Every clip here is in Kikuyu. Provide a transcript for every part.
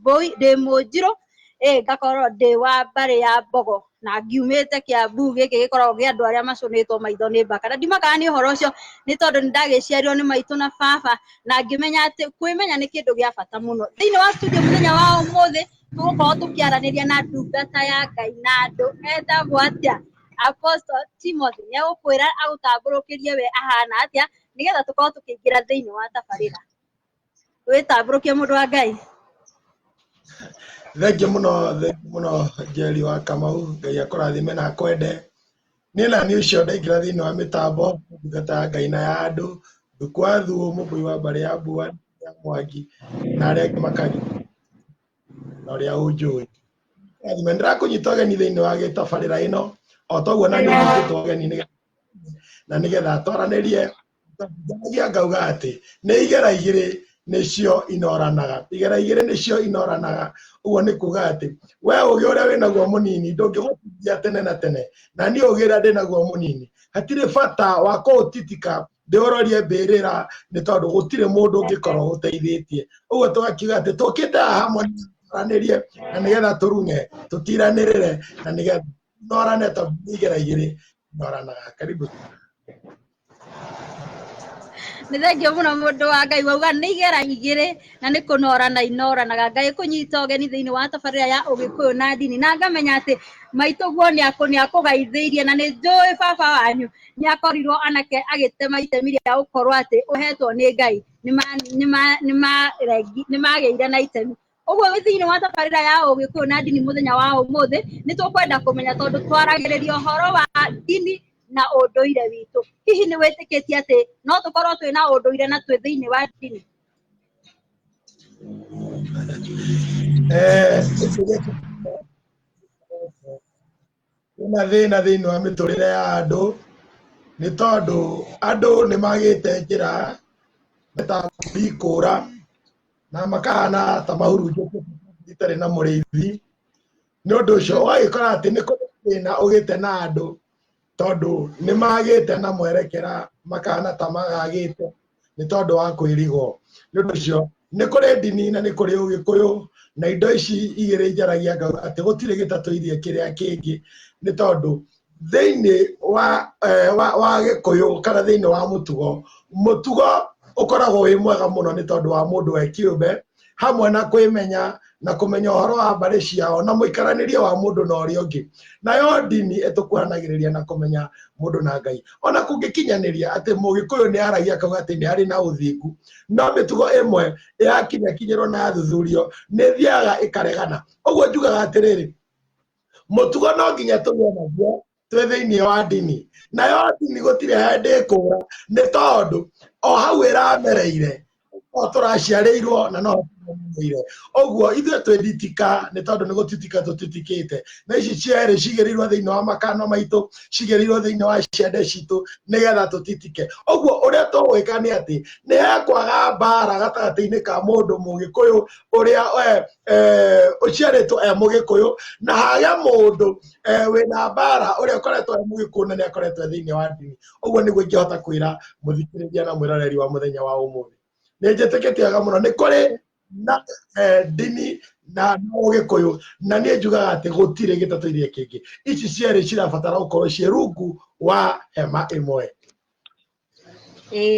Mbũi, ndĩ Mũnjirũ, ĩ ngakorwo ndĩ wa mbarĩ ya Mbogo na ngiumĩte Kĩambu, gĩkĩ gĩkoragwo gĩa andũ arĩa macũnĩtwo maitho nĩ mbaka. Na ndimakaga nĩ ũhoro ũcio nĩ tondũ nĩ ndagĩciarirwo nĩ maitũ na baba na ngĩmenya atĩ kwĩmenya nĩ kĩndũ gĩa bata mũno. Thĩinĩ wa studio mũthenya wa ũmũthĩ tũgũkorwo tũkĩaranĩria na ndungata ya Ngai na andũ etagwo atĩa? Apostle Timothy nĩ egũkwĩra agũtambũrũkĩrie we ahana atĩa nĩgetha tũkorwo tũkĩingĩra thĩinĩ wa tabarĩra. wĩtambũrũkie mũndũ wa ngai thengiũ mũno thengiũ mũno njeri wa kamau ngai akũrathime na akwende niĩ na niĩ ũcio ndaingĩra thĩinĩ wa mĩtambo ndungata ya ngai na ya andũ thukwa thu mũmbũi wa mbarĩ ya mbua ya mwangi na arĩa angĩ makari na ũrĩa ũnjũĩ rathime ndĩrakũnyita ũgeni thĩinĩ wa gĩtabarĩra ĩno o toguo na niĩ nyitĩtwo ũgeni nĩgetha- na nĩgetha twaranĩrie Ndaragia ngauga atĩ nĩ igera igĩrĩ nĩcio inoranaga igera igĩrĩ nĩcio inoranaga ũguo nĩ kuga atĩ we ũgĩ ũrĩa wĩnaguo mũnini ndũngĩgũteithia tene na tene na niĩ ũgĩ ũrĩa ndĩnaguo mũnini hatirĩ bata wa kũũtitika ndĩũrorie mbĩrĩra nĩ tondũ gũtirĩ mũndũ ũngĩkorwo gũteithĩtie ũguo tũgakiuga atĩ tũkĩte haha hamwe tũranĩrie na nĩgetha tũrune tũtiranĩrĩre na nĩgetha norane tondũ nĩ igera igĩrĩ noranaga karibu nĩ thengiũ mũno mũndũ wa ngai wauga nĩ igera igĩrĩ na nĩ kũnorana inoranaga ngai kũnyita ũgeni thĩinĩ wa tabarĩra ya ũgĩkũyũ na ndini na ngamenya atĩ maitũguo nĩ akũgaithĩirie na nĩ njũĩ baba wanyu nĩ akorirwo anake agĩtema itemi rĩa gũkorwo atĩ ũhetwo nĩ ngai nĩ magĩire na itemi ũguo thĩinĩ wa tabarĩra ya ũgĩkũyũ na ndini mũthenya wa ũmũthĩ nĩ tũkwenda kũmenya tondũ twaragĩrĩria ũhoro wa ndini na ũndũire witũ hihi nĩ wĩtĩkĩtie atĩ no tũkorwo twĩ na ũndũire na twĩ thĩinĩ wa ndini Eh, Kwĩna thĩna thĩinĩ wa mĩtũrĩre ya andũ nĩ tondũ andũ nĩ magĩte njĩra meta kũhingũra na makahana ta mahurunjũkĩte itarĩ na mũrĩithi. Nĩ ũndũ ũcio ũgagĩkora atĩ nĩ kũrĩ thĩna ũgĩte na andũ tondũ nĩ magĩte na mwerekera makahana ta magagĩte. nĩ tondũ wa kwĩrigwo nĩ ũndũ ũcio nĩ kũrĩ ndini na nĩ kũrĩ ũgĩkũyũ na indo ici igĩrĩ njaragia ngauga atĩ gũtirĩ gĩtatũirie kĩrĩa kĩngĩ nĩ tondũ thĩinĩ wa, eh, wa, wa gĩkũyũ kana thĩinĩ wa mũtugo mũtugo ũkoragwo wĩ mwega mũno nĩ tondũ wa mũndũ we kĩũmbe hamwe na kwĩmenya na kũmenya ũhoro wa mbarĩ ciao na mũikaranĩrie wa mũndũ na ũrĩa ũngĩ nayo ndini ĩtũkuhanagĩrĩria na kũmenya mũndũ na ngai ona kũngĩkinyanĩria atĩ mũgĩkũyũ nĩ aragia akauga atĩ nĩ arĩ na ũthingu no mĩtugo ĩmwe yakinyakinyĩrwo na yathuthurio nĩ thiaga ĩkaregana ũguo njugaga atĩrĩrĩ mũtugo no nginya tũgĩe naguo twĩ thĩinĩ wa ndini nayo ndini gũtirĩ hĩndĩ ĩkũra nĩ tondũ o hau ĩramereire o tũraciarĩirwo na no tũramereire ũguo ithuĩ twĩ nditika nĩ tondũ nĩ gũtitika tũtitikĩte na ici cierĩ cigĩrĩirwo thĩinĩ wa makano maitũ cigĩrĩirwo thĩinĩ wa ciande citũ nĩgetha tũtitike ũguo ũrĩa tũgwĩka nĩ atĩ nĩ hekwaga mbara gatagatĩ-inĩ ka mũndũ mũgĩkũyũ ũrĩa eh, eh, ũciarĩtwo e mũgĩkũyũ na hage mũndũ eh, wĩna mbara ũrĩa ũkoretwo e mũgĩkũna nĩ akoretwo e thĩinĩ wa ndini ũguo nĩguo ingĩhota kwĩra mũthikĩrĩria na mwĩroreri wa mũthenya wa ũmũthĩ nĩ njĩtĩkĩtie wega mũno nĩ kũrĩ na eh, ndini na ũgĩkũyũ na niĩ njugaga atĩ gũtirĩ gĩtatũ iria kĩngĩ ici cierĩ cirabatara gũkorwo ciĩ rungu wa hema ĩmwe Ĩĩ,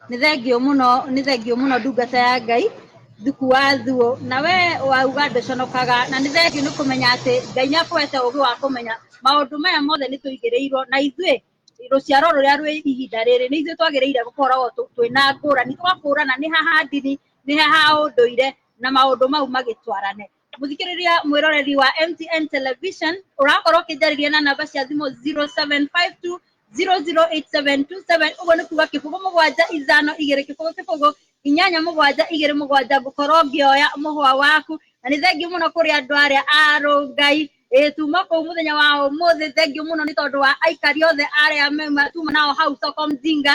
nĩ thengiũ mũno, nĩ thengiũ mũno ndungata ya Ngai, Thuku wa Thuo. Na we wauga ndũconokaga, na nĩ thengiũ nĩ kũmenya atĩ Ngai nĩ akũhete ũgĩ wa kũmenya maũndũ maya mothe nĩ tũigĩrĩirwo, na ithuĩ rũciaro rũrĩa rwĩ ihinda rĩrĩ nĩ ithuĩ twagĩrĩire gũkoragwo twĩna ngũrani, tũgakũrana nĩ ha ha ndini, nĩ ha ha ũndũire, na maũndũ mau magĩtwarane. mũthikĩrĩria mwĩroreri wa mtn television ũrakorwo ũkĩnjarĩria na namba cia thimũ 0752 008727 ũguo nĩ kuga kĩbũgũ mũgwanja ithano igĩrĩ kĩbũgũ kĩbũgũ inyanya mũgwanja igĩrĩ mũgwanja ngũkorwo ngĩoya mũhwa waku na nĩ thengiũ mũno kũrĩ andũ arĩa arũngai tuma kũu mũthenya wa ũmũthĩ thengiũ mũno nĩ tondũ wa aikari othe arĩa mauma tuma nao hau soko mjinga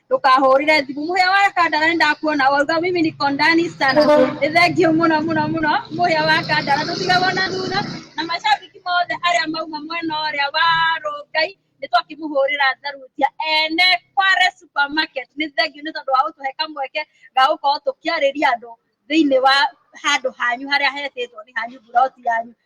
ndũkahũrĩre thimũ mũhĩa wa kandara nĩ ndakuona wauga mimi niko ndani sana nĩ thengiũ mũno mũno mũno mũhĩa wa kandara ndũtigagwo na thutha na macambiki mothe arĩa mauma mwena ũrĩa wa rũngai nĩ twakĩmũhũrĩra tharutia ene kware supermarket nĩ thengiũ nĩ tondũ wa gũtũhe kamweke ga gũkorwo tũkĩarĩria andũ thĩinĩ wa handũ hanyu harĩa hetĩtwo nĩ hanyu mburoti yanyu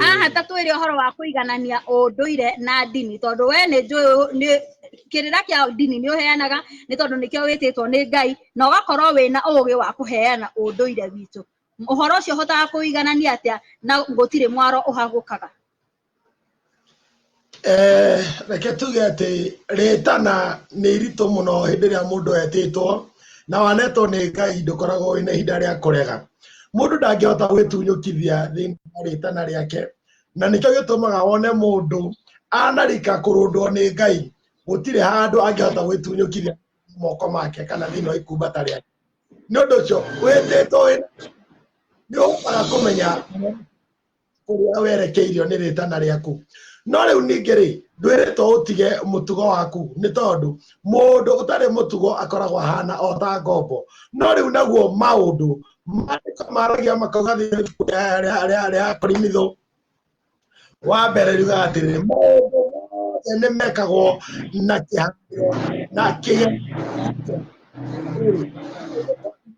haha ta twĩre ũhoro wa kũiganania ũndũire na ndini tondũ we nĩ njũĩ nĩ kĩrĩra kĩa ndini nĩ ũheanaga nĩ tondũ nĩkĩo wĩtĩtwo nĩ ngai na ũgakorwo wĩna ũũgĩ wa kũheana ũndũire witũ ũhoro ũcio ũhotaga kũiganania atĩa na gũtirĩ mwaro ũhagũkaga Eh, reke tuge atĩ rĩtana nĩ iritũ mũno hĩndĩ ĩrĩa mũndũ etĩtwo na wanetwo nĩ ngai ndũkoragwo wĩna ihinda rĩa kũrega mũndũ ndangĩhota gwĩtunyũkithia thĩinĩ wa rĩtana rĩake na nĩkĩo gĩtũmaga wone mũndũ anarika kũrũndwo nĩ ngai gũtirĩ handũ angĩhota gwĩtunyũkithia moko make kana thĩinĩ wa ikumbata rĩake nĩ ũndũ ũcio wĩtĩtwo nĩ ũhotaga kũmenya ũrĩa werekeirio nĩ rĩtana rĩaku no rĩu ningĩ rĩ ndwĩrĩtwo ũtige mũtugo waku nĩ tondũ mũndũ ũtarĩ mũtugo akoragwo ahana o ta ngombo no rĩu naguo maũndũ maandĩko maragia makauga thĩinĩ ibuku rĩa- rĩa- rĩa- rĩa korimithũ wa mbere riuga atĩrĩ maũndũ mothe nĩ mekagwo na kĩhangĩro na kĩge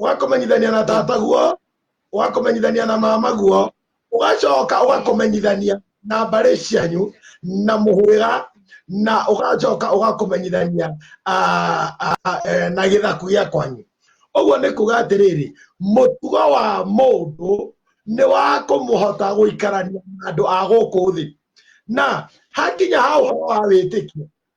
ũgakũmenyithania na tataguo ũgakũmenyithania na mamaguo ũgacoka ũgakũmenyithania na mbarĩ cianyu na mũhwĩra na ũgacoka ũgakũmenyithania ah, ah, ah, eh, na gĩthaku gĩa kwanyu ũguo nĩ kuga atĩrĩrĩ mũtugo wa mũndũ nĩ wa kũmũhota gũikarania na andũ a gũkũ thĩ na hakinya ha ũhoro wa wĩtĩkio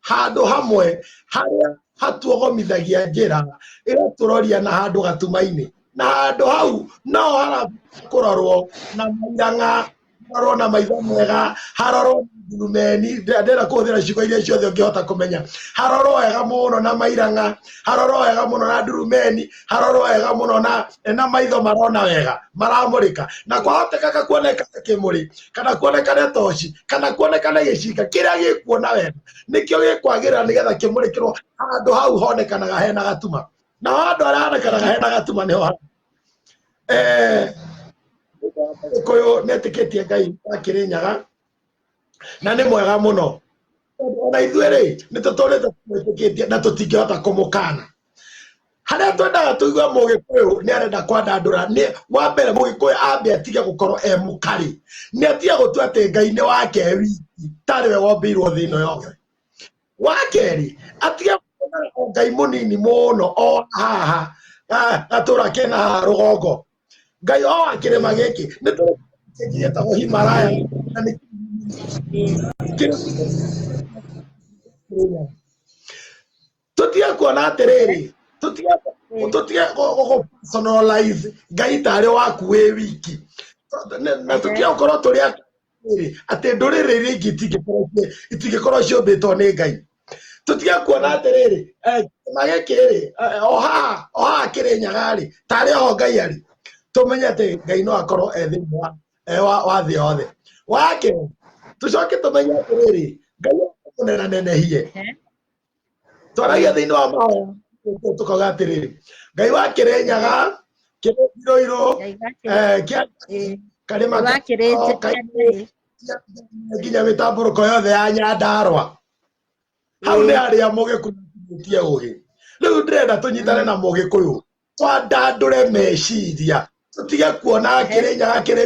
handũ hamwe harĩa hatuogomithagia njĩra ĩgatũroria na handũ gatuma-inĩ na handũ hau no harakũrorwo na mairang'a harorwo na maitho mega harorwo na ndurumeni ndĩrenda kũhũthĩra ciugo iria ciothe ũngĩhota kũmenya harorwo wega mũno na mairang'a harorwo wega mũno na ndurumeni harorwo wega muno na na maitho marona wega maramurika na kwahotekaka kuonekana kimuri kana kuonekana toci kana kuonekana gicinga kiria gikuona wega nikio gikwagira nigetha kimurikirwo handu hau honekanaga hena gatuma na handu haria honekanaga hena gatuma niho ha- eh Gikuyu netikitie Ngai akiri nyaga na nĩ mwega mũno ona ithuĩ rĩ nĩ tũtũrĩte twĩtĩkĩtie na tũtingĩhota kũmũkana harĩa twendaga tũigue mũgĩkũyũ nĩ arenda kwandandũra nĩ wa mbere mũgĩkũyũ ambe atige gũkorwo e mũkarĩ nĩ atige gũtua atĩ ngai nĩ wake wiki tarĩ we wombĩirwo thĩ ĩno yothe wa kerĩ atige gũkorwo ngai mũnini mũno o haha gatũra kena haha rũgongo ngai oa kĩrĩma gĩkĩ nĩ tũ- kĩngĩ gĩtagwo himaraya na nĩ tutige kuona atĩrĩrĩ tutige tutige gũgũpersonalize ngai tarĩ waku wĩ wiki Na- na tutige gũkorwo tũrĩ atĩrĩrĩ atĩ ndũrĩrĩ iria ingĩ itingĩkorwo ci- itingĩkorwo ciũmbĩtwo nĩ ngai tũtige kuona atĩrĩrĩ eh, kĩrĩma gĩkĩ rĩ eh, o haha o haha kĩrĩ nyaga rĩ tarĩ oho ngai arĩ tũmenye atĩ ngai no akorwo e thĩinĩ wa eh, wa wa thĩ yothe wake tũcoke tũmenye atĩrĩrĩ ngai mũnena nenehie twaragia thĩinĩ wa mahoya tũkauga atĩrĩrĩ ngai wa kĩrĩ nyaga kĩrĩ iroirũ Ngai wa Kĩrĩ- eh, kĩa Ĩĩ. karĩma Ngai wa Kĩrĩ- o, kairĩ- nginya mĩtambũrũko yothe ya nyandarwa hau nĩ harĩa mũgĩkunyĩtie ũgĩ rĩu ndĩrenda tũnyitane na mũgĩkũyũ twandandũre meciria tũtige kuona kĩrĩ nyaga kĩrĩ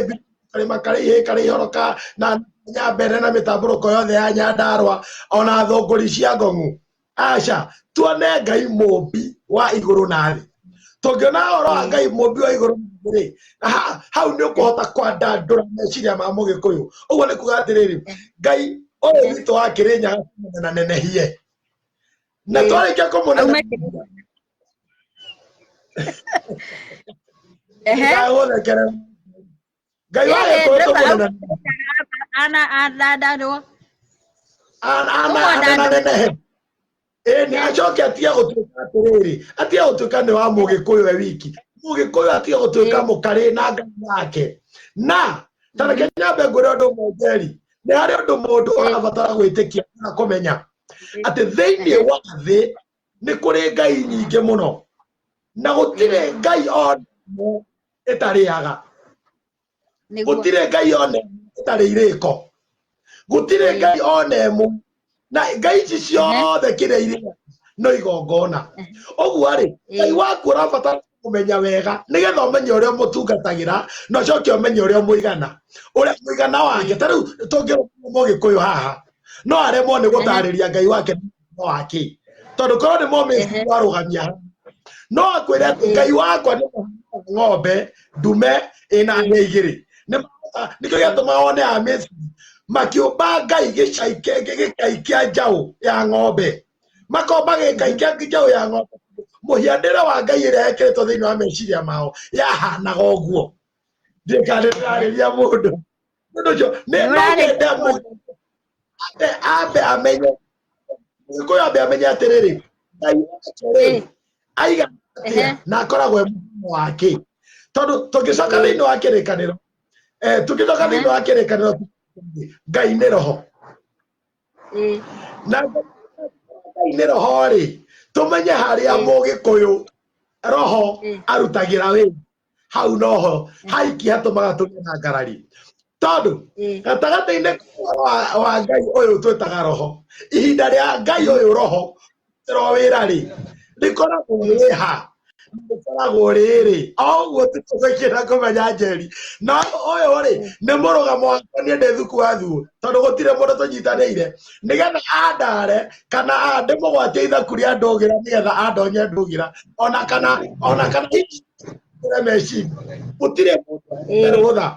karĩma karĩ ihĩ karĩ ihoro ka na nyambere na mĩtambũrũko yothe ya nyandarwa ona thũngũri cia ngong'u aca tuone ngai mũmbi wa igũrũ na thĩ tũngĩona ũhoro wa ngai mũmbi wa igũrũ na thĩ rĩ ha- hau nĩ ũkũhota kwandandũra meciria ma mũgĩkũyũ ũguo nĩ kuga atĩrĩrĩ ngai ũyũ witũ wa kĩrĩnyaga na nenehie na Ĩĩ. twarĩkia kũmũnene Aume kĩrĩnyaga. Ehe. ndagũthekerera ngai wa Yeye gĩkũyũ Jehova tũmwĩna ana athandarwo ana Ũguo ana na andũ- nenehe ĩĩ nĩ acoke atige gũtuĩka atĩrĩrĩ atige gũtuĩka nĩ wa mũgĩkũyũ we wiki mũgĩkũyũ atige gũtuĩka Ĩĩ. mũkarĩ na ngai yake na tareke nyambe ngwĩra ũndũ ũmwe njeri nĩ harĩ ũndũ mũndũ Ĩĩ. ũrabatara gwĩtĩkia na kũmenya atĩ thĩinĩ wa thĩ nĩ kũrĩ ngai nyingĩ mũno na gũtirĩ ngai ona ĩmwe ĩtarĩaga nĩguo gũtirĩ ngai ona ĩmwe ĩtarĩ irĩko gũtirĩ Ĩĩ. ngai ona ĩmwe na ngai ici ciothe kĩrĩa irĩ no igongona ũguo rĩ ngai Ĩĩ. waku ũrabatara kũmenya wega nĩgetha ũmenye ũrĩa ũmũtungatagĩra na ũcoke ũmenye ũrĩa mũigana ũrĩa mũigana wake ta rĩu tũngĩrũmwo mũgĩkũyũ haha no aremwo nĩ gũtarĩria ngai wake no wake tondũ korwo nĩ momĩsi warũgamia no akwĩre atĩ ngai wakwa nĩ ng'ombe ndume ĩna nĩ igĩrĩ nĩkĩo gĩatũma one amĩsi makĩũmba ngai gĩcai kĩa njaũ ya ng'ombe makorwo magĩka ikengi njaũ ya ng'ombe mũhianĩre wa ngai ĩrĩa ĩkĩrĩtwo thĩinĩ wa meciria mao yahanaga ũguo ndĩkanĩ ndĩrarĩria mũndũ mũndũ ũcio nĩ- no Nĩũrarĩ- nyende mũndũ ambe ambe amenye mũgĩkũyũ ambe amenye atĩrĩrĩ ngai wake rĩ Eh. aiga atĩa Ehe. na akoragwo e mũhumo wake tondũ tũngĩcoka thĩinĩ wa kĩrĩkanĩro eh, tũngĩcoka thĩinĩ wa kĩrĩkanĩro ngai nĩ roho Eh, na ngai-inĩ roho-rĩ tũmenye harĩa Mm. mũgĩkũyũ roho Mm. arutagĩra wĩra hau noho haiki hatũmaga tũgĩe na ngarari tondũ eh, gatagatĩ-inĩ wa, wa ngai ũyũ twĩtaga roho ihinda rĩa ngai ũyũ roho rĩrutĩrwo wĩra rĩ rĩkoragwo rĩha rĩkoragwo rĩrĩ o ũguo tũkũgwĩkĩra kũmenya njeri no ũyũ rĩ nĩ mũrũgamo wakwa niĩ ndĩ thuku wa thuo tondũ gũtirĩ mũndũ tũnyitanĩire nĩgetha andare kana andĩ mũgwatia ithaku rĩa ndũgĩra nĩgetha andonye ndũgĩra ona kana ona kana hihi ndũgĩre meciria gũtirĩ mũndũ ũrũtha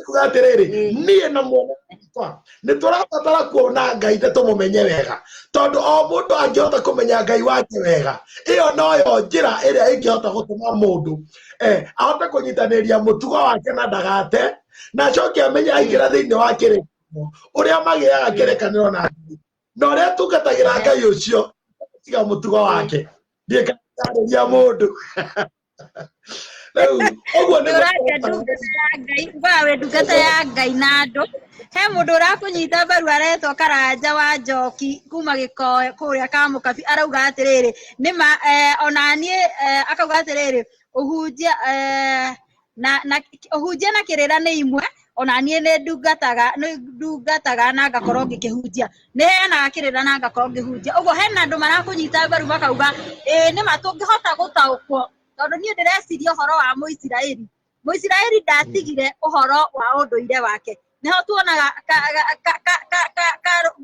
kuga atĩrĩrĩ niĩ na mwana wakwa nĩ tũrabatara kuona ngai na tũmũmenye wega tondũ o mũndũ angĩhota kũmenya ngai wake wega ĩyo noyo njĩra ĩrĩa ĩngĩhota gũtũma mũndũ eh, ahote kũnyitanĩria mũtugo wake na ndagate na acoke amenye aingĩra thĩinĩ wa kĩrĩkanĩro ũrĩa magĩaga kĩrĩkanĩro na ngai na ũrĩa tungatagĩra ngai ũcio tiga mũtugo wake ndiĩkarĩria mũndũ rĩu ũguo nĩ ũraria ndungata ya ngai ugaga wĩ ndungata ya ngai na andũ he mũndũ ũrakũnyita mbaru aretwo karanja wa njoki kuma gĩkoe kũrĩa ka mũkabi arauga atĩrĩrĩ nĩ ma eh, ona niĩ eh, akauga atĩrĩrĩ ũhunjia eh, na na ũhunjia na kĩrĩra nĩ imwe ona niĩ nĩ ndungataga nĩ ndungataga na ngakorwo ngĩkĩhunjia nä heanaga kä rä ra na ngakorwo ngä hunjia å guo hena andå marakå nyita mbaru makauga ä nä ma tå ngä hota gå taåkwo tondå niä ndä reciria å horo wa må isiraeli må isiraeli ndatigire å horo wa å ndå ire wake nĩho tuonaga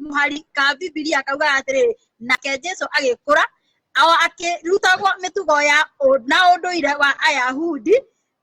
mũhari ka bibilia kaugaga atĩrĩrĩ nake jesu agĩkũra akĩrutagwo mĩtugo ya na ũndũire wa ayahudi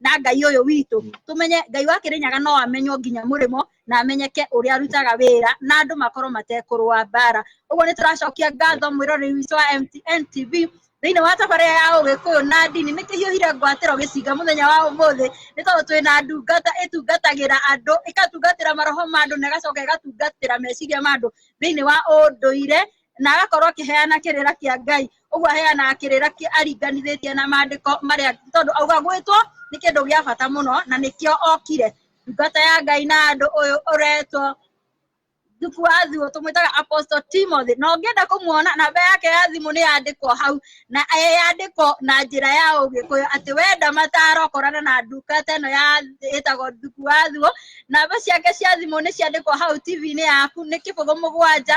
na ngai ũyũ witũ tũmenye ngai wa kĩrĩnyaga no amenywo nginya mũrĩmo na amenyeke ũrĩa arutaga wĩra na andũ makorwo matekũrũa mbara ũguo nĩ tũracokia ngatho mwĩroreri witũ wa mtn tv thĩinĩ wa tabarĩra ya ũgĩkũyũ na ndini nĩ kĩhiũhire ngwatĩro gĩcinga mũthenya wa ũmũthĩ nĩ tondũ twĩ na ndungata ĩtungatagĩra andũ ĩkatungatĩra maroho ma andũ na ĩgacoka ĩgatungatĩra meciria ma andũ thĩinĩ wa ũndũire na agakorwo akĩheana kĩrĩra kĩa ngai ũguo aheanaga kĩrĩra kĩ- aringanithĩtie na maandĩko marĩa tondũ auga gwĩtwo nĩ kĩndũ gĩa bata mũno na nĩkĩo okire ndungata ya ngai na andũ ũyũ ũretwo thuku wa thuo tũmwĩtaga apostle timothy na ũngĩenda kũmuona namba yake ya thimũ nĩ yandĩkwo hau na yandĩkwo na njĩra ya ũgĩkũyũ atĩ wenda mataro ũkorana na ndungata ĩno ya ĩtagwo thuku wa thuo namba ciake cia thimũ nĩ ciandĩkwo hau tv-inĩ yaku nĩ kĩbũgũ mũgwanja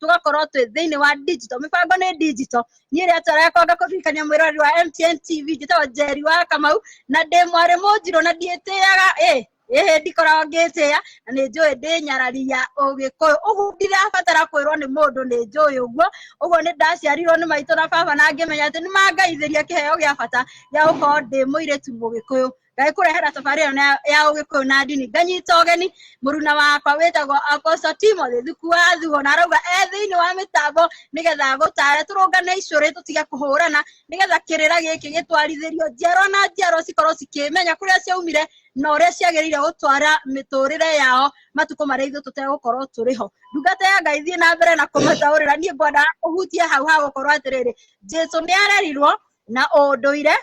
tũgakorwo twĩ thĩinĩ wa digital mĩbango nĩ digital niĩ rĩa twara yakwa ngakũririkania mwĩrori wa mtn tv njĩtagwo njeri wa kamau na ndĩ mwarĩ mũnjirũ na ndiĩtĩaga ĩ ĩhĩ ndikoragwo ngĩtĩa na nĩ njũĩ ndĩ nyarari ya ũgĩkũyũ ũguo ndirabatara kwĩrwo nĩ mũndũ nĩ njũĩ ũguo ũguo nĩ ndaciarirwo nĩ maitũ na baba na ngĩmenya atĩ nĩ mangaithĩria kĩheo gĩa bata gĩa gũkorwo ndĩ mũirĩtu mũgĩkũyũ ngai kurehera safari ĩyo na- ya ũgĩkũyũ na ndini nganyita ũgeni mũruna wakwa wĩtagwo akoso timothy thuku wa thuo na arauga e thĩinĩ wa mĩtambo nĩgetha gũtare tũrũngane icũrĩ tũtige kũhũrana nĩgetha kĩrĩra gĩkĩ gĩtwarithĩrio njiarwa na njiarwa cikorwo cikĩmenya kũrĩa ciaumire na ũrĩa ciagĩrĩire gũtwara mĩtũrĩre yao matukũ marĩa ithuĩ tũtegũkorwo tũrĩ ho ndungata ya ngai thiĩ na mbere na kũmataũrĩra niĩ ngwenda ũhutie hau ha gũkorwo atĩrĩrĩ jesu nĩ arerirwo na ũndũire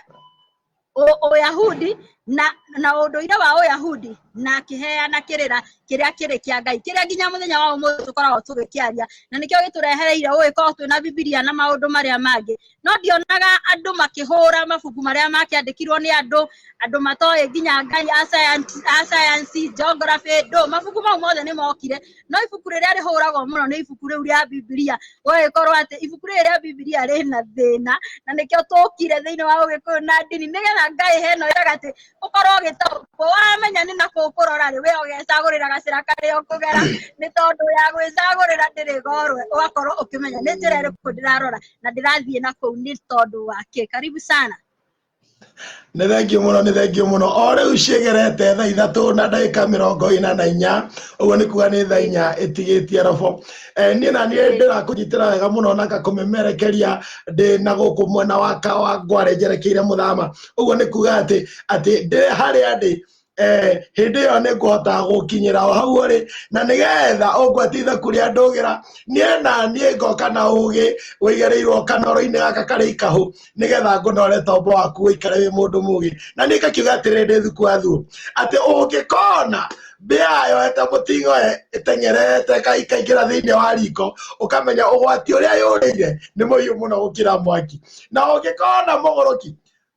ũ- ũyahudi na na ũndũire wa ũyahudi na akĩheana kĩrĩra kĩrĩa kĩrĩ kĩa ngai kĩrĩa nginya mũthenya wa ũmũthĩ tũkoragwo tũgĩkĩaria na nĩkĩo gĩtũrehereire ũgĩkorwo twĩna bibilia na maũndũ marĩa mangĩ no ndionaga andũ makĩhũra mabuku marĩa makĩandĩkirwo nĩ andũ andũ matoĩ nginya ngai a science- a sayansi geography ndũ mabuku mau mothe nĩ mokire no ibuku rĩrĩa rĩhũragwo mũno nĩ ibuku rĩu rĩa bibilia gũgĩkorwo atĩ ibuku rĩrĩ rĩa bibilia rĩna thĩna na nĩkĩo tũkire thĩinĩ wa ũgĩkũyũ na ndini nĩgetha ngai heno ĩraga atĩ ũkorwo ũgĩtaũkwo wamenya nĩ nakũ ũkũrora rĩ we ũgecagũrĩra gacĩra karĩa ũkũgera nĩ tondũ ya gwĩcagũrĩra ndĩrĩ gorwe ũgakorwo ũkĩmenya nĩ njĩra ĩrĩkũ ndĩrarora na ndĩrathiĩ nakũu nĩ tondũ wa kĩ karibu sana Nĩ thengiũ mũno nĩ thengiũ mũno o rĩu ciĩgerete thaa ithatũ na ndagĩka mĩrongo ĩna na inya ũguo nĩ kuga nĩ thaa inya ĩtigĩtie robo eh, niĩ na niĩ ndĩrakũnyitĩra wega mũno na ngakũmemerekeria ndĩ na gũkũ mwena wa kawa ngware njerekeire mũthama ũguo nĩ kuga atĩ atĩ ndĩ harĩa ndĩ eh, hĩndĩ ĩyo nĩ ngũhota gũkinyĩra o hau ũrĩ na nĩgetha ũngwatitha kũrĩa ndũgĩra niĩ na niĩ ngoka na ũgĩ ũigĩrĩirwo kanoro-inĩ gaka karĩ ikahũ nĩgetha ngũnore tombo waku ũikare wĩ mũndũ mũgĩ na niĩ ngakiuga atĩrĩ ndĩ thuku athuo atĩ ũngĩkona mbĩa yoete mũting'o ĩteng'erete ikaingĩra thĩinĩ wa riko ũkamenya ũgwati ũrĩa yũrĩire nĩ mũhiũ mũno gũkĩra mwaki na ũngĩkona mũgũrũki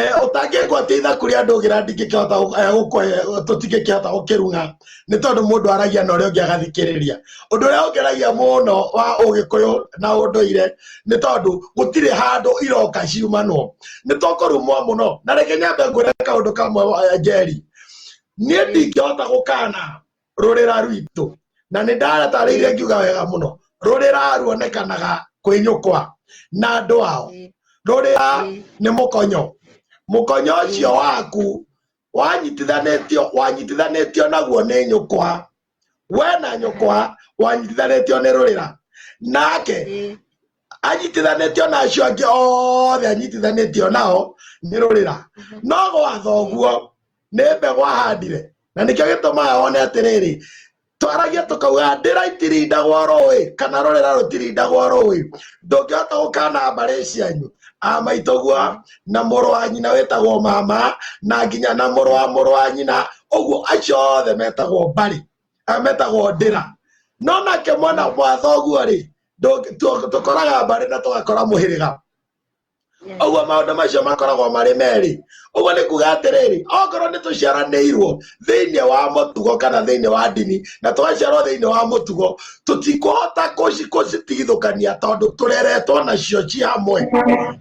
Eh, ũtangĩngwo atĩ itha kũrĩ andũ ũgĩra ndingĩkĩhota gũ- eh, gũkũhe- tũtingĩkĩhota gũkĩrung'a nĩ tondũ mũndũ aragia na ũrĩa ũngĩ agathikĩrĩria ũndũ ũrĩa ũngeragia mũno wa ũgĩkũyũ na ũndũire nĩ tondũ gũtirĩ handũ iroka ciumanwo nĩ tũkũrumwo mũno na rĩngĩ nyambe ngwĩre kaũndũ kamwe wa- njeri niĩ ndingĩhota gũkana rũrĩra rwitũ na nĩ ndaratarĩire ngiuga wega mũno rũrĩra ruonekanaga kwĩ nyũkwa na andũ ao rũrĩra nĩ mũkonyo mũkonyo ũcio waku wanyitithanĩtio wanyitithanĩtio naguo nĩ nyũkwa we na nyũkwa wanyitithanĩtio nĩ rũrĩra nake anyitithanĩtio na acio angĩ othe anyitithanĩtio nao nĩ rũrĩra no gwatha ũguo nĩ mbegũ ahandire na nĩkĩo gĩtũmaga one atĩrĩrĩ twaragia tũkauga ndĩra itirindagwo rũĩ kana rũrĩra rũtirindagwo rũĩ ndũngĩhota gũkana mbarĩ cianyu amaitũguo na mũrũ wa nyina wĩtagwo mama na nginya na mũrũ wa mũrũ wa nyina ũguo acio othe metagwo mbarĩ eh, metagwo ndĩra no nake mwana mwa thoguo rĩ Ndũ- tũ- tũkoraga mbarĩ na tũgakora mũhĩrĩga Yes. ũguo maũndũ macio makoragwo marĩ merĩ ũguo nĩ kuga atĩrĩrĩ okorwo nĩ tũciaranĩirwo thĩinĩ wa mũtugo kana thĩinĩ wa ndini na twaciarwo thĩinĩ wa mũtugo tũtikũhota kũci- gũcitigithũkania tondũ tũreretwo nacio ci hamwe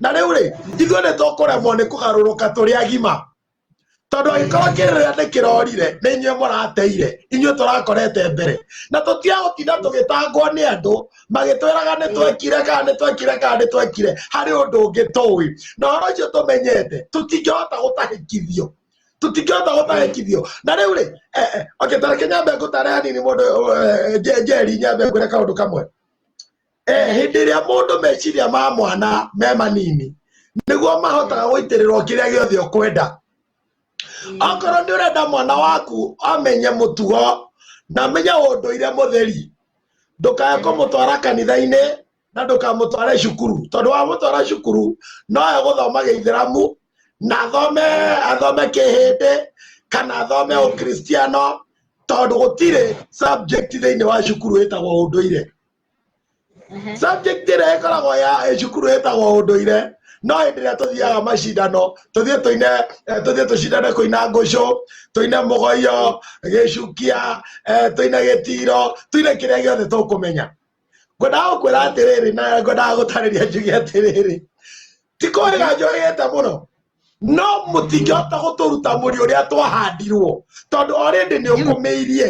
na rĩu rĩ ithuĩ nĩ tũkũremwo nĩ kũgarũrũka tũrĩ agima tondũ angĩkorwo kĩrĩra nĩ kĩrorire nĩ inyuĩ mũrateire inyuĩ tũrakorete mbere na tũtiagũtinda tũgĩtangwo nĩ andũ magĩtwĩraga nĩ twekire kana nĩ twekire kana nĩ twekire harĩ ũndũ ũngĩ tũĩ na ũhoro ũcio tũmenyete tũtingĩhota gũtahĩkithio tũtingĩhota gũtahĩkithio na rĩu rĩ eh, eh, okay, tareke nyambe ngũtare hanini mũndũ eh, eh, Je- njeri nyambe ngwĩre kaũndũ kamwe Eh, hĩndĩ ĩrĩa mũndũ meciria ma mwana me manini nĩguo mahotaga gũitĩrĩrwo kĩrĩa gĩothe ũkwenda okorwo nĩ ũrenda mwana waku amenye mũtugo na amenye ũndũire mũtheri ndũkae kũmũtwara kanitha-inĩ na ndũkamũtware cukuru tondũ wamũtwara cukuru noe gũthoma gĩithĩramu na athome athome kĩhĩndĩ kana athome ũkristiano tondũ gũtirĩ subject thĩinĩ wa cukuru ĩtagwo ũndũire subject ĩrĩa ĩkoragwo ya cukuru ĩtagwo ũndũire no hĩndĩ ĩrĩa tũthiaga macindano tũthiĩ tũine eh, tũthiĩ tũcindane kũina ngũcũ tũine mũgoyo gĩcukia eh, tũine gĩtiro tũine kĩrĩa gĩothe tũkũmenya ngwendaga gũkwĩra atĩrĩrĩ na ngwendaga gũtarĩria njuge atĩrĩrĩ ti kũrĩga njohete mũno no mũtingĩhota gũtũruta mũri ũrĩa twahandirwo tondũ orĩndĩ nĩ ũkũmĩirie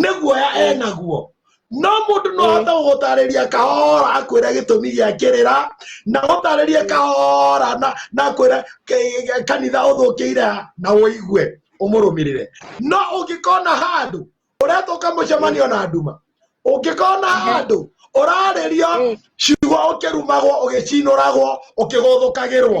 nĩ guoya enaguo no mũndũ no ahote gũgũtarĩria kahora akwĩre gĩtũmi gĩa kĩrĩra na gũtarĩrie kahora na na akwĩre ke- ke- kanitha ũthũkĩire ha, na ũigue ũmũrũmĩrĩre no ũngĩkona handũ ũretwo kamũcemanio na nduma ũngĩkona handũ ũrarĩrio ciugo ũkĩrumagwo ũgĩcinũragwo ũkĩgũthũkagĩrwo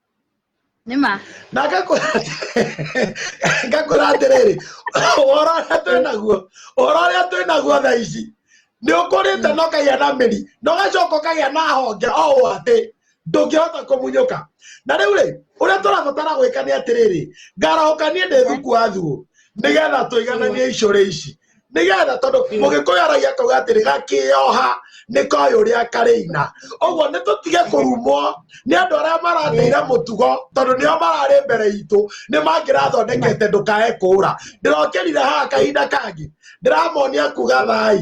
nĩma na ngakũra ngakũra atĩrĩrĩ ũhoro ũrĩa twĩ naguo ũhoro ũrĩa twĩ naguo thaa ici nĩ ũkũrĩte na ũkagĩa na mĩri na ũgacoka ũkagĩa na honge o ũũ atĩ ndũngĩhota kũmunyũka na rĩu rĩ ũrĩa tũrabatara gwĩka nĩ atĩrĩrĩ ngarahũka niĩ ndĩ thuku wa thuo nĩgetha tũigananie icũrĩ ici nĩgetha tondũ mũgĩkũyũ aragia akauga atĩrĩ gakĩoha nĩ koĩ ũrĩa karĩina ũguo nĩ tũtige kũrumwo nĩ andũ arĩa marathĩire mũtugo tondũ nĩo mararĩ mbere itũ nĩ mangĩrathondekete ndũkae kũũra ndĩrokĩrire haha kahinda kangĩ ndĩramonia kuga thai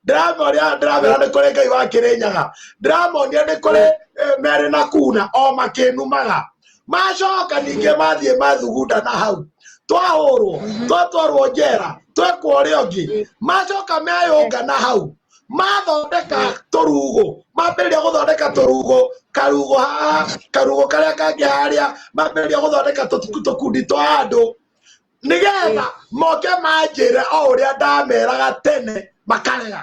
ndĩramonia ndĩramera nĩ kũrĩ ngai wa kĩrĩnyaga ndĩramonia nĩ kũrĩ eh, merĩ na kuna o makĩnumaga macoka ningĩ mathiĩ mathugunda na hau twahũrwo twatwarwo njera twekwo ũrĩa ũngĩ macoka meyũnga na hau mathondeka tũrugo mambĩrĩria gũthondeka tũrugo karugo haha karugo karĩa kangĩ harĩa mambĩrĩria gũthondeka tũtu- tũkundi twa andũ nĩgetha moke manjĩre o ũrĩa ndameraga tene makarega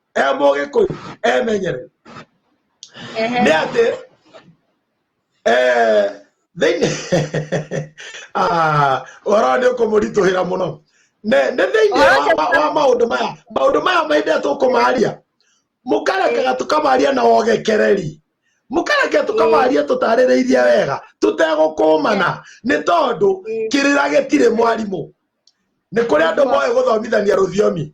ebe oge ko emenyere Ehe. ne ate eh thini ah ora ni ukumurituhira muno ne ne thini Ora wa- wa- wa maundu maya maundu maya maithe tukumaria mukarekaga tukamaria na wogekereri mukareke tukamaria tutarĩrĩirie wega tutegũkũmana nĩ tondũ kĩrĩra gĩtirĩ mwarimũ nĩ kũrĩ andũ moĩ gũthomithania rũthiomi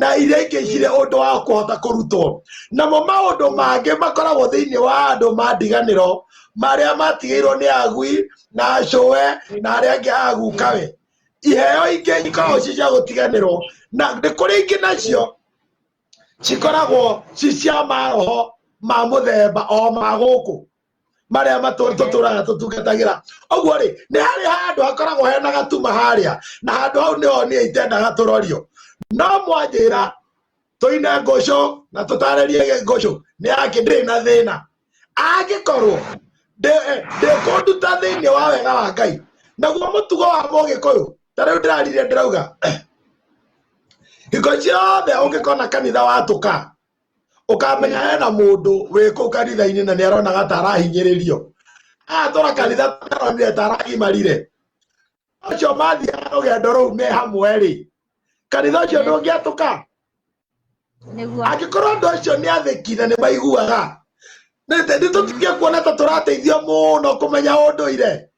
na iria ingĩ cirĩ ũndũ wa kũhota kũrutwo. Namo maũndũ mangĩ makoragwo thĩinĩ wa andũ ma ndiganĩro marĩa matigĩirwo nĩ agui na acũwe na arĩa angĩ agukawe. Iheo ingĩ ikoragwo ci cia gũtiganĩrwo na nĩ kũrĩ ingĩ nacio cikoragwo ci cia maroho ma mũthemba o ma gũkũ marĩa matũritũ tũraga tũtungatagĩra ũguo rĩ nĩ harĩ handũ hakoragwo hena gatuma harĩa na handũ hau nĩho niĩ itendaga tũrorio no mwanjĩra tũine ngũcũ na tũtarĩrie ngũcũ nĩ yake ndĩrĩ na thĩna angĩkorwo ndĩkũnduta eh, thĩinĩ wa wega wa ngai naguo mũtugo wa mũgĩkũyũ ta rĩu ndĩrarire ndĩrauga hingo ciothe ũngĩkona kanitha watũka ukamenya hena mundu wĩ kũu kanitha-inĩ na nĩ aronaga ta arahinyĩrĩrio atũra kanitha taronire ta aragimarire ũcio mathiaga rũgendo rũu me hamwe-rĩ kanitha ũcio ndũngĩatũka nĩguo angĩkorwo andũ acio nĩ athĩki na nĩ maiguaga nĩ tũtige kuona ta tũrateithio mũno kũmenya ũndũire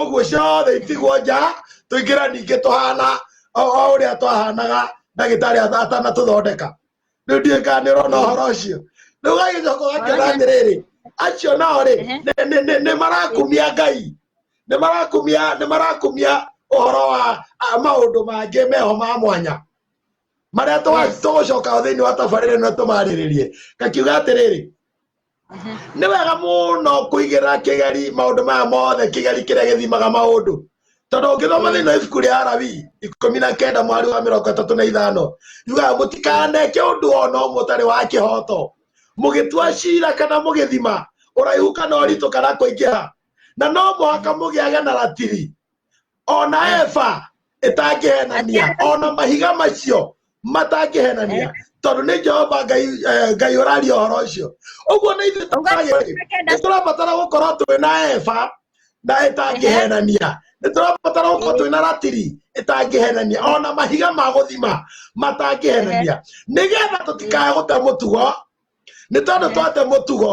ũguo ciothe itigwo nja tũingĩra ningĩ tũhana o o ũrĩa twahanaga ndagĩtarĩ atha- atanatũthondeka rĩu ndiũĩ kana nĩ ũrona ũhoro ũcio rĩu gagĩcoka ũgakĩona atĩrĩrĩ acio nao rĩ Ehe. nĩ- nĩ- nĩ- nĩ marakumia ngai nĩ marakumia nĩ marakumia ũhoro wa a, maũndũ mangĩ meho ma mwanya marĩa Yes. tũgũcoka thĩinĩ wa tabarĩra ĩno tũmarĩrĩrie ngakiuga atĩrĩrĩ nĩ wega mũno kũigĩra kĩgeri maũndũ maya mothe kĩgeri kĩrĩa gĩthimaga maũndũ tondũ ũngĩthoma thĩinĩ wa ibuku rĩa arabi ikũmi na kenda mwari wa mĩrongo ĩtatũ na ithano yugaga mũtikaneke ũndũ o na ũmwe ũtarĩ wa kĩhoto mũgĩtua cira kana mũgĩthima ũraihu kana ũritũ kana kũingĩha na no mũhaka mũgĩage na ratiri ona eva ĩtangĩhenania ona mahiga macio matangĩhenania tondũ nĩ jehova ngai eh, ngai ũraria ũhoro ũcio ũguo nĩ ithuĩ tũragĩrĩ nĩ tũrabatara gũkorwo twĩ na eva na ĩtangĩhenania nĩ tũrabatara gũkorwo twĩ na ratiri ĩtangĩhenania ona mahiga ma gũthima matangĩhenania nĩgetha tũtikae gũte mũtugo nĩ tondũ twate mũtugo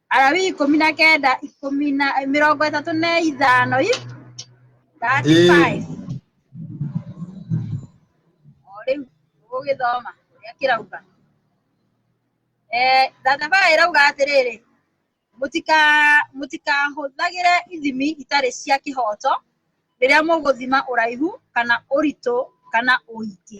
Alawii ikũmi na kenda ikũmi na mĩrongo ĩtatũ na ithano i thirty Ĩĩ. five o rĩu ũgĩthoma ũrĩa kĩrauga Eh, thirty five ĩrauga atĩrĩrĩ mũtika mũtikahũthagĩre ithimi itarĩ cia kĩhoto rĩrĩa mũgũthima ũraihu kana ũritũ kana ũingĩ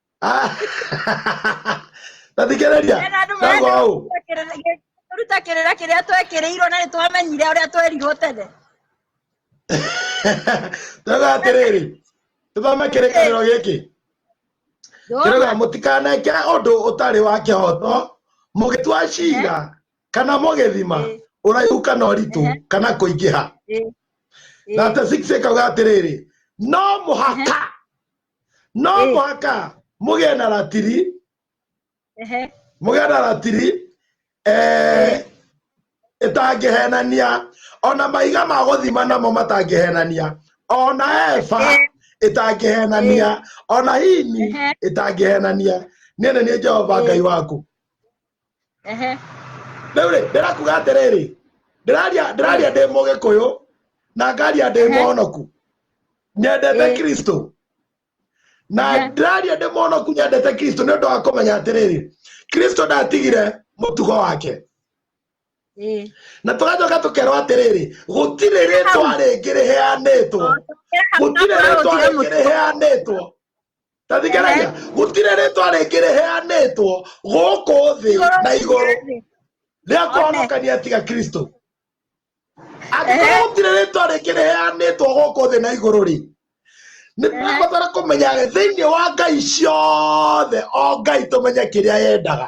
tathikĩrĩria nagoũ ruta kĩrĩra kĩrĩa twekĩrĩirwo na nĩ twamenyire ũrĩa twerirwo tene twega atĩrĩrĩ tũthome kĩrĩkanĩro gĩkĩ kĩrĩga mũtikaneke ũndũ ũtarĩ wa kĩhoto mũgĩtua cira kana mũgĩthima ũraihu kana ũritũ kana kũingĩha na atĩ sikauga atĩrĩrĩ no mũhaka no Eh. mũhaka mũgĩe na ratiri ehe mũgĩe na ratiri eh, ĩtangĩhenania ona maiga ma gũthima namo matangĩhenania ona eba Eh. ĩtangĩhenania ona hini Ehe. ĩtangĩhenania niĩ nĩ niĩ jehova Eh. ngai waku ehe rĩu rĩ ndĩrakuga atĩrĩrĩ ndĩraria ndĩraria ndĩ mũgĩkũyũ na ngaria ndĩ Ehe. mũhonoku nyendete Ĩĩ. kristo na Ehe. ndĩraria ndĩ mũhonoku nyendete kristo nĩ ũndũ wa kũmenya atĩrĩrĩ kristo ndatigire mũtugo wake ĩĩ na tũgacoka tũkerwo atĩrĩrĩ gũtirĩ rĩtwa rĩngĩ rĩheanĩtwo gũtirĩ rĩtwa rĩngĩ rĩheanĩtwo tathikĩrĩria gũtirĩ rĩtwa rĩngĩ rĩheanĩtwo gũkũ thĩ na igũrũ rĩa kũhonokania tiga kristo angĩkorwo Ehe. gũtirĩ rĩtwa rĩngĩ rĩheanĩtwo gũkũ thĩ na igũrũ rĩ nĩ tũrabatara kũmenya thĩinĩ wa ngai ciothe o ngai tũmenye kĩrĩa yendaga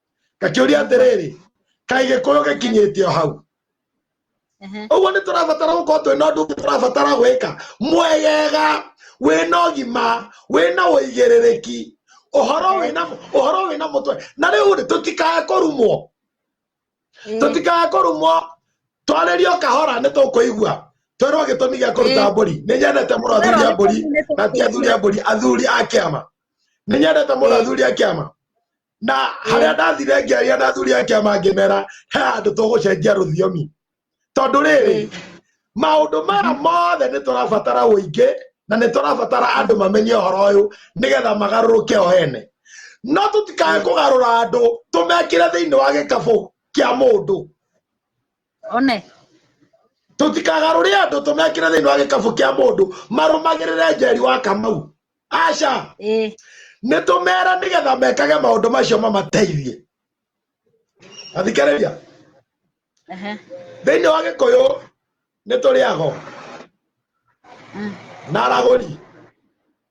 ngakĩũria atĩrĩrĩ kaĩ gĩkũyũ gĩkinyĩte o hau Ehe. ũguo nĩ tũrabatara gũkorwo twĩ na ũndũ ũngĩ tũrabatara gwĩka mwegega wĩna ũgima wĩna ũigĩrĩrĩki ũhoro wĩna ũhoro wĩna mũtwe na rĩu rĩ tũtikae kũrumwo Ĩĩ. tũtikae kũrumwo twarĩrio kahora nĩ tũkũigua twerwo gĩtũmi gĩa kũruta Ĩĩ. mbũri nĩ nyendete mũno athuri a mbũri na ti athuri a mbũri athuri a kĩama nĩ nyendete mũno Ĩĩ. athuri a kĩama na harĩa ndathire ngĩaria na athuri a kĩama ngĩmera he handũ tũgũcenjia rũthiomi tondũ rĩrĩ maũndũ maya mothe nĩ tũrabatara ũingĩ na nĩ tũrabatara andũ mamenye ũhoro ũyũ nĩgetha magarũrũke o ene no tũtikae kũgarũra andũ tũmekĩre thĩinĩ wa gĩkabũ kĩa mũndũ one tũtikagarũre andũ tũmekĩre thĩinĩ wa gĩkabũ kĩa mũndũ marũmagĩrĩre njeri wa kamau aca ĩĩ nĩ tũmera nĩgetha mekage maũndũ macio mamateithie athikĩrĩria ehe thĩinĩ wa gĩkũyũ nĩ tũrĩ ago Mm. na aragũri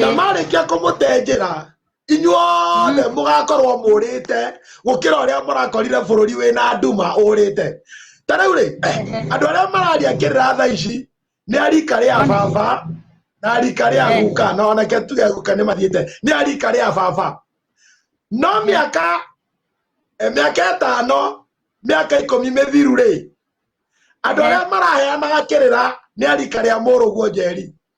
na marĩkia kũmũtenjera inyuothe mm. mũgakorwo mũrĩte gũkĩra ũrĩa mũrakorire bũrũri wĩna nduma ũrĩte ta rĩu rĩ eh, andũ arĩa mararia kĩrĩra tha ici nĩ arika rĩa baba na arika rĩa eh. guka na onake tuge guka nĩ mathiĩte nĩ arika rĩa baba no mĩaka eh, mĩaka ĩtano mĩaka ikũmi mĩthiru rĩ andå arä a maraheanaga kä rä ra nä arika rä a må rå guo njeri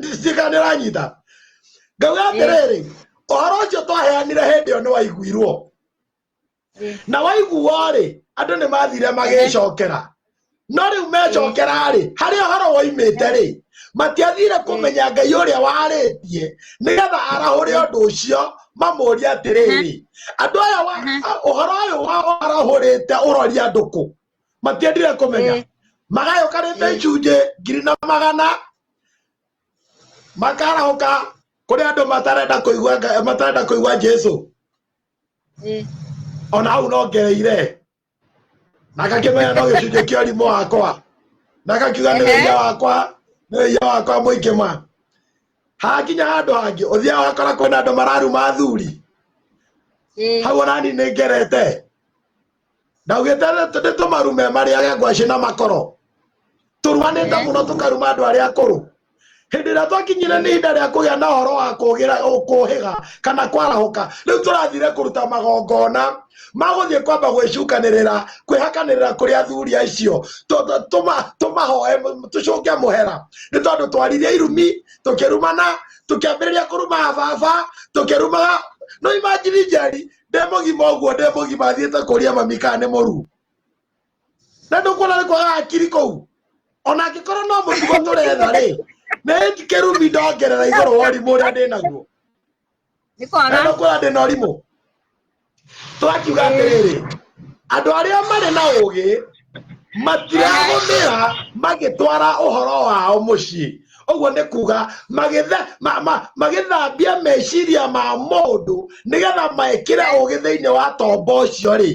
ndĩtikanĩra nyita ngauga atĩrĩrĩ ũhoro ũcio twaheanire hĩndĩ ĩyo nĩ waiguirwo na waiguo rĩ andũ nĩ mathire magĩcokera no rĩu mecokera rĩ harĩ ũhoro woimĩte rĩ matiathire kũmenya ngai ũrĩa warĩtie nĩgetha arahũre ũndũ ũcio mamũria atĩrĩrĩ andũ aya ũhoro ũyũ warahũrĩte ũroria ndũkũ matiendire kũmenya Eh. magayũkanĩte Eh. icunjĩ ngiri na magana makarahũka kũrĩ andũ matarenda kũigua Nga- matarenda kũigua jesu Eh. ona hau nongereire na ngakĩmenya no gĩcunjĩ kĩa ũrimũ wakwa na ngakiuga nĩ Ehe. wĩia wakwa nĩ wĩia wakwa mũingĩ ma hakinya handũ hangĩ ũthia wakora kwĩna andũ mararuma athuri Eh. hau onani nĩ ngerete ndaugĩte nĩ tũmaru me marĩage ngwacĩ na makoro tũruanĩte mũno tũkaruma andũ arĩa akũrũ hĩndĩ ĩrĩa twakinyire nĩ ihinda rĩa kũgĩa na ũhoro wa kũgĩra kũhĩga kana kwarahũka rĩu tũrathire kũruta magongona magũthiĩ kwamba gwĩcunganĩrĩra kwĩhakanĩrĩra kũrĩ athuri acio tũmahoe tũcũnge mũhera nĩ tondũ twaririe irumi tũkĩrumana tũkĩambĩrĩria kũruma baba tũkĩrumaga no imagine njeri ndĩ mũgima ũguo ndĩ mũgima thiĩte kũria mami kana nĩ mũru na ndũkuona nĩ kwaga hakiri kũu ona angĩkorwo no mũtugo tũretha rĩ nĩ kĩrumi ndongerera igũrũ wa ũrimũ ũrĩa ndĩ naguo nĩ na kwaga ndũkuona ndĩ na ũrimũ twakiuga atĩrĩrĩ andũ arĩa marĩ na ũũgĩ matiragũmĩra magĩtwara ũhoro wao mũciĩ ũguo nĩ kuga magĩthe- ma- ma- magĩthambia meciria ma mũndũ nĩgetha mekĩre ũgĩ thĩinĩ wa tombo ũcio rĩ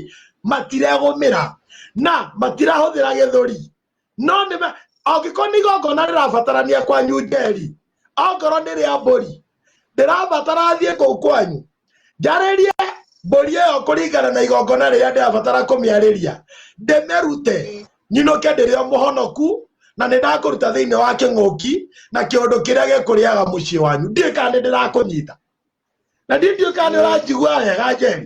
matiregũmĩra na matirahũthĩra gĩthũri no nĩme angĩkorwo nĩ igongona rĩrabatarania kwanyu njeri ongorwo nĩ rĩa mbũri ndĩrabatara thiĩ kũu kwanyu njarĩrie mbũri ĩyo kũringana na igongona rĩrĩa ndĩrabatara kũmĩarĩria ndĩmĩrute nyinũke ndĩrĩ o mũhonoku na nĩ ndakũruta thĩinĩ wa kĩng'ũki na kĩũndũ kĩrĩa gĩkũrĩaga mũciĩ wanyu ndiũĩ kana nĩ ndĩrakũnyita na ndiũĩ kana nĩ ũranjigua wega njeri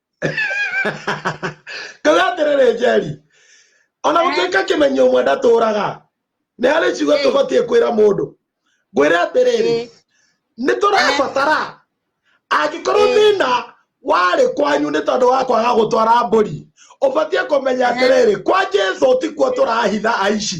kauga atĩrĩrĩ njeri ona Eh. gũtuĩka kĩmenyo ũmwe ndatũraga nĩ harĩ ciugo Eh. tũbatiĩ kwĩra mũndũ ngwĩre atĩrĩrĩ Eh. nĩ tũrabatara angĩkorwo Eh. thĩna warĩ kwanyu nĩ tondũ wa kwaga gũtwara mbũri ũbatiĩ kũmenya Eh. atĩrĩrĩ kwa jesu tikuo tũrahitha aici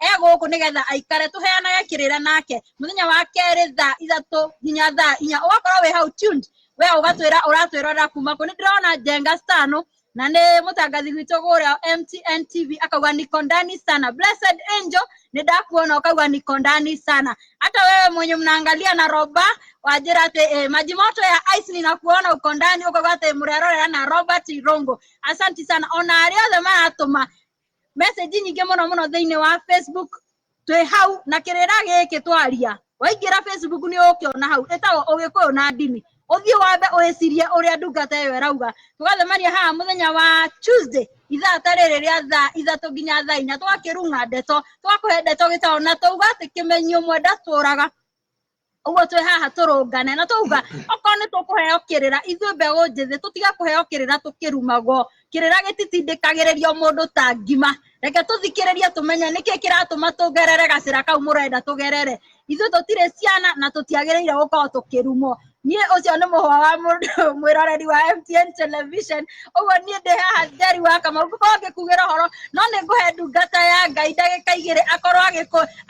e gũkũ nĩgetha aikare tũheanage kĩrĩra nake mũthenya wa kerĩ thaa ithatũ nginya thaa inya ũgakorwo wĩ hau tuned we ũgatwĩra ũratwĩrora kuma kũ nĩ ndĩrona jenga stano na nĩ mũtangathi witũ gũrĩa mtn tv akauga nikondani sana blessed angel nĩ ndakuona ũkauga nikondani sana hata wewe mwenye mnaangalia na roba wanjĩra atĩ eh, maji moto ya ice ninakuona uko ndani ukauga atĩ mrerorera na robert irongo asanti sana ona arĩa othe maratũma message nyingĩ mũno mũno thĩinĩ wa facebook twĩ hau na kĩrĩra gĩkĩ twaria waingĩra facebook nĩ ũkĩona hau ĩtagwo ũgĩkũyũ na ndini ũthiĩ wambe ũĩcirie ũrĩa ndungata ĩyo ĩrauga tũgacemania haha mũthenya wa tuesday ithaa ta rĩrĩ rĩa thaa ithatũ nginya thaa inya twakĩrung'a ndeto twakũhe ndeto gĩtaũ na twauga atĩ kĩmenyi ũmwe ndatũraga ũguo twĩ haha tũrũngane na twauga okorwo nĩ tũkũheo kĩrĩra ithuĩ mbeũ njĩthĩ tũtige kũheo kĩrĩra tũkĩrumagwo kĩrĩra gĩtitindĩkagĩrĩrio mũndũ ta ngima reke tũthikĩrĩrie tũmenye nĩkĩ kĩratũma tũgerere gacĩra kau mũrenda tũgerere ithuĩ tũtirĩ ciana na tũtiagĩrĩire gũkorwo tũkĩrumwo niĩ ũcio nĩ mũhwa wa mũndũ mwĩroreri wa MTN television ũguo niĩ ndĩ haha njeri wa kamau ngũkorwo ngĩkugĩra ũhoro no nĩ ngũhe ndungata ya ngai ndagĩka igĩrĩ akorwo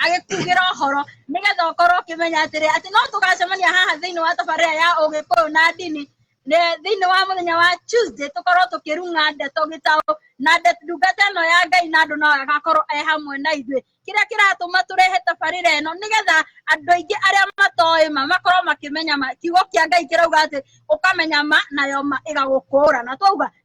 agĩkugĩra ũhoro nigetha ukorwo ukimenya atiri ati no tugacemania haha thiini wa tabarira ya ugikuyu na ndini Ne- thiini wa muthenya wa tuesday tukorwo tukirunga ndeto gitau na nde- ndungata ino ya ngai na andu no agakorwo e hamwe na ithuĩ kĩrĩa kĩratũma tũrehe tabarĩra ĩno nĩgetha andũ aingĩ arĩa matoĩ ma makorwo makĩmenya ma kiugo kĩa ngai kĩrauga atĩ ũkamenya ma nayo ma ĩgagũkũũra na twauga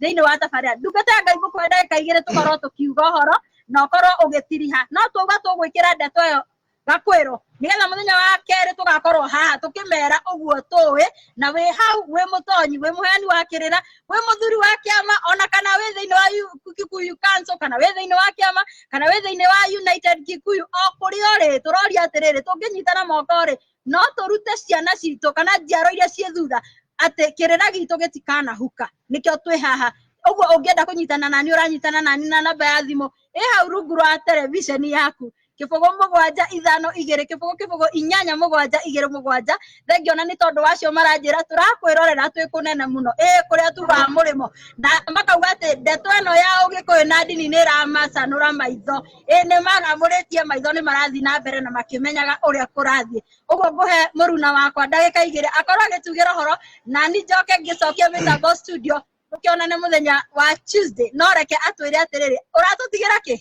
thĩinĩ wa thabarĩ ya ndungata ya ngai gũkũhe ndagĩka igĩrĩ tũkorwo tũkiuga ũhoro na ũkorwo ũgĩtiriha no tuga tũgwĩkĩra ndeto ĩyo gakwĩrwo nĩgetha mũthenya wa kerĩ tũgakorwo haha tũkĩmera ũguo tũĩ na wĩ hau wĩ mũtonyi wĩ mũheani wa kĩrĩra wĩ mũthuri wa kĩama ona kana wĩ thĩinĩ wa Yu- kikuyu council kana wĩ thĩinĩ wa kĩama kana wĩ thĩinĩ wa united kikuyu o kũrĩa ũrĩ tũroria atĩrĩrĩ tũngĩnyitana moko rĩ no tũrute ciana citũ kana njiaro iria ciĩ thutha atĩ kĩrĩra gitũ gĩtikanahuka nĩkĩo twĩ haha ũguo ũngĩenda kũnyitana nani ũranyitana nani na namba ya thimũ ĩ hau rungu rwa tereviceni yaku kĩbũgũ mũgwanja ithano igĩrĩ kĩbũgũ kĩbũgũ inyanya mũgwanja igĩrĩ mũgwanja thengio na nĩ tondũ wacio maranjĩra tũrakwĩrorera twĩ kũnene mũno ĩ kũrĩa tugaga mũrĩmo na makauga atĩ ndeto ĩno ya ũgĩkũyũ na ndini nĩ ĩramacanũra maitho ĩ nĩ maramũrĩtie maitho nĩ marathiĩ na mbere na makĩmenyaga ũrĩa kũrathiĩ ũguo ngũhe mũruna wakwa ndagĩka igĩrĩ akorwo agĩtugĩra ũhoro nani njoke ngĩcokie mĩtambo studio tũkĩonane mũthenya wa tuesday no reke atwĩre atĩrĩrĩ ũratũtigĩra kĩ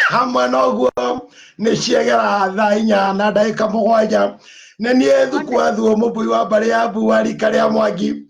hamwe na ũguo nĩ ciegera thaa inya na ndagĩka mũgwanja nĩ niĩ thukuathuo mũmbui wa mbarĩ ya mbua rika rĩa mwangi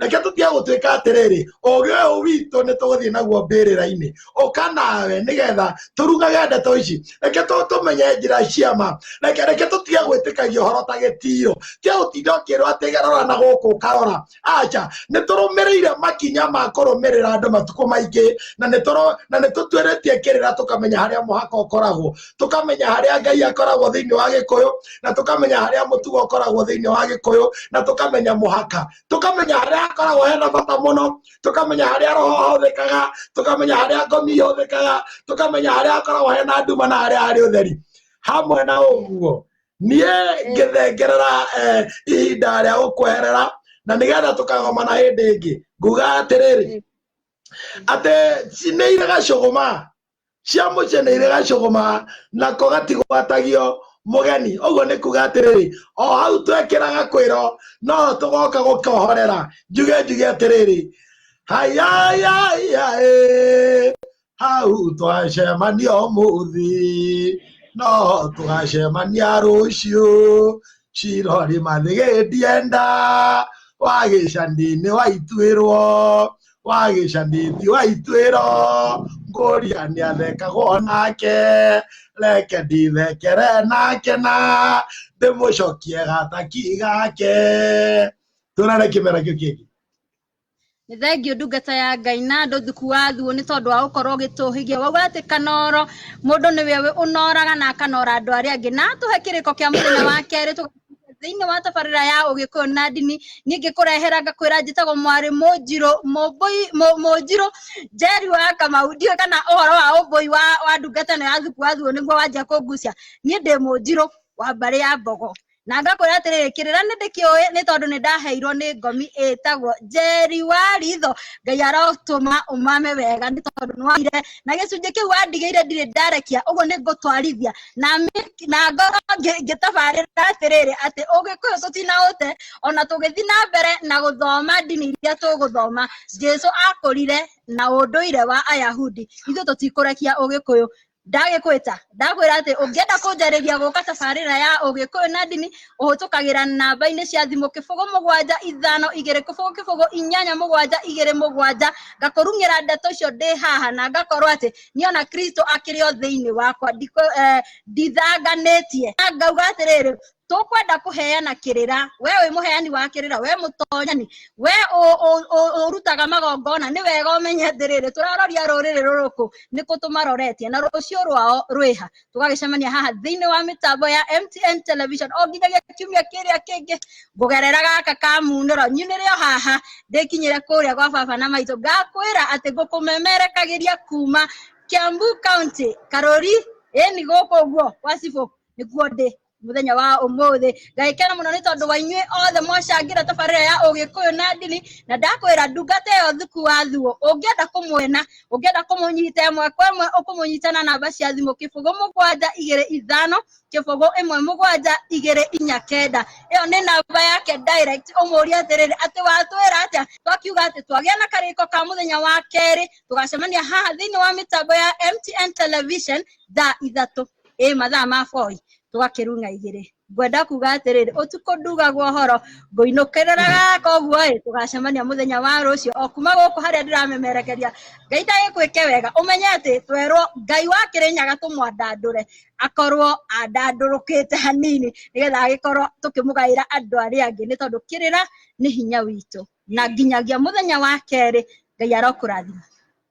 reke tũtige gũtuĩka atĩrĩrĩ ũgĩ ũyũ witũ nĩ tũgũthiĩ naguo mbĩrĩra-inĩ ũka nawe nĩgetha tũrugage ndeto ici reke tũ- tũmenye njĩra cia ma reke reke tũtige gwĩtĩkagia ũhoro ta gĩtiro tia gũtinda ũkĩrwo atĩ gerora na gũkũ ũkarora aca nĩ tũrũmĩrĩire makinya ma kũrũmĩrĩra andũ matukũ maingĩ na nĩ tũrũ- na nĩ tũtuĩrĩtie kĩrĩra tũkamenya harĩa mũhaka ũkoragwo tũkamenya harĩa ngai akoragwo thĩinĩ wa gĩkũyũ na tũkamenya harĩa mũtugo ũkoragwo thĩinĩ wa gĩkũyũ na tũkamenya mũhaka tũkamenya harĩa hakoragwo hena bata mũno tũkamenya harĩa roho ahũthĩkaga tũkamenya harĩa ngomi ihũthĩkaga tũkamenya harĩa hakoragwo hena nduma na harĩa harĩ ũtheri hamwe na ũguo niĩ ngĩthengerera eh, ihinda rĩa gũkweherera na nĩgetha tũkagomana hĩndĩ ĩngĩ nguga atĩrĩrĩ atĩ nĩ irĩ gacũgũma ciamũceneire gacũgũma nako gatigwatagio mũgeni ũguo nĩ kuga atĩrĩrĩ o hau twekĩraga kwĩro noho tũgoka gũkohorera njuge njuge atĩrĩrĩ hayayayayĩ hau twacemania ũmũthĩ no tũgacemania rũciũ cirori mathĩgĩtie nda wagĩcandinĩ waituĩrwo wa gĩcanĩthi wa ituĩro ngũria nĩ athekagwo nake reke ndithekere nake na ndĩmũcokie gataki gake tũrare kĩmera kĩu kĩngĩ nĩ thengiũ ndungata ya ngai na andũ thuku wa thuo nĩ tondũ wa gũkorwo ũgĩtũhĩgia wauga atĩ kanoro mũndũ nĩwe ũnoraga na akanora andũ arĩa angĩ na atũhe kĩrĩko kĩa mũthenya wa kerĩ tũga- thĩinĩ wa tabarĩra ya ũgĩkũyũ na ndini niĩ ngĩkũrehera ngakwĩra njĩtagwo mwarĩ mũnjirũ mũmbũi mũ- mũnjirũ njeri wa kamau ndiũĩ kana ũhoro wa ũmbũi wa wa ndungata ĩno ya thuku wa thuo nĩguo wanjia kũngucia niĩ ndĩ mũnjirũ wa mbarĩ ya mbogo na ngakwĩra atĩrĩrĩ kĩrĩra nĩ ndĩkĩũĩ nĩ tondũ nĩ ndaheirwo nĩ ngomi ĩtagwo njeri wa ritho ngai arotũma ũmame wega nĩ tondũ nĩwaire na gĩcunjĩ kĩu wandigĩire ndirĩ ndarekia ũguo nĩ ngũtwarithia na na ngoro ngĩtabarĩra atĩrĩrĩ atĩ ũgĩkũyũ tũtinaũte ona tũgĩthiĩ na mbere na gũthoma ndini iria tũgũthoma jesu akũrire na ũndũire wa ayahudi ithuĩ tũtikũrekia ũgĩkũyũ ndagĩkwĩta ndakwĩra atĩ ũngĩenda kũnjarĩria gũka tabarĩra ya ũgĩkũyũ na ndini ũhũtũkagĩra namba-inĩ cia thimũ kĩbũgũ mũgwanja ithano igĩrĩ kĩbũgũ kĩbũgũ inyanya mũgwanja igĩrĩ mũgwanja ngakũrung'ĩra ndeto icio ndĩ haha na ngakorwo atĩ nä ona kristo akĩrĩ o thĩinĩ wakwa ndikũ- eh, ndithanganĩtie Na ngauga atĩrĩrĩ tũkwenda kũheana kĩrĩra we wĩ mũheani wa kĩrĩra we mũtonyani we ũ- ũ- ũ- ũrutaga magongona nĩ wega ũmenye atĩrĩrĩ tũraroria rũrĩrĩ rũrũkũ nĩkũ tũmaroretie na rũciũ rwao rwĩha tũgagĩcemania haha thĩinĩ wa mĩtambo ya mtn television o nginyagia kiumia kĩrĩa kĩngĩ ngũgerera gaka ka munĩro nyunĩre o haha ndĩkinyĩre kũrĩa gwa baba na maitũ ngakwĩra atĩ ngũkũmemerekagĩria kuma kiambu county karũri ĩni gũkũ ũguo gwa cibũ nĩkuo ndĩ muthenya wa umuthi ngagikena muno ni tondu wa inyuĩ othe mwacangĩra tabarĩra ya ũgĩkũyũ na ndini na ndakwĩra ndungata ĩyo thuku wa thuo ũngĩenda kũmwena ũngĩenda kũmũnyita ĩmwe kwa ĩmwe ũkũmũnyita na namba cia thimũ kĩbũgũ mũgwanja igĩrĩ ithano kĩbũgũ ĩmwe mũgwanja igĩrĩ inya kenda ĩyo nĩ namba yake direct ũmũrie atĩrĩrĩ atĩ watwĩra atĩa twakiuga atĩ twagĩa na karĩko ka mũthenya wa kerĩ tũgacemania haha thĩinĩ wa mĩtambo ya MTN television thaa ithatũ ĩ mathaa ma boi tũgakĩrung'a igĩrĩ ngwenda kuga atĩrĩrĩ ũtukũ ndugagwo horo ngũinũkĩrĩraga koguo ĩ tũgacemania mũthenya wa rũciũ o kuma gũkũ harĩa ndĩramemerekeria ngai ndagĩkwĩke wega ũmenye atĩ twerwo ngai wa kĩrĩnyaga tũmwandandũre akorwo andandũrũkĩte hanini nĩgetha agĩkorwo tũkĩmũgaĩra andũ arĩa angĩ nĩ tondũ kĩrĩra nĩ hinya witũ na nginyagia mũthenya wa kerĩ ngai arokũrathima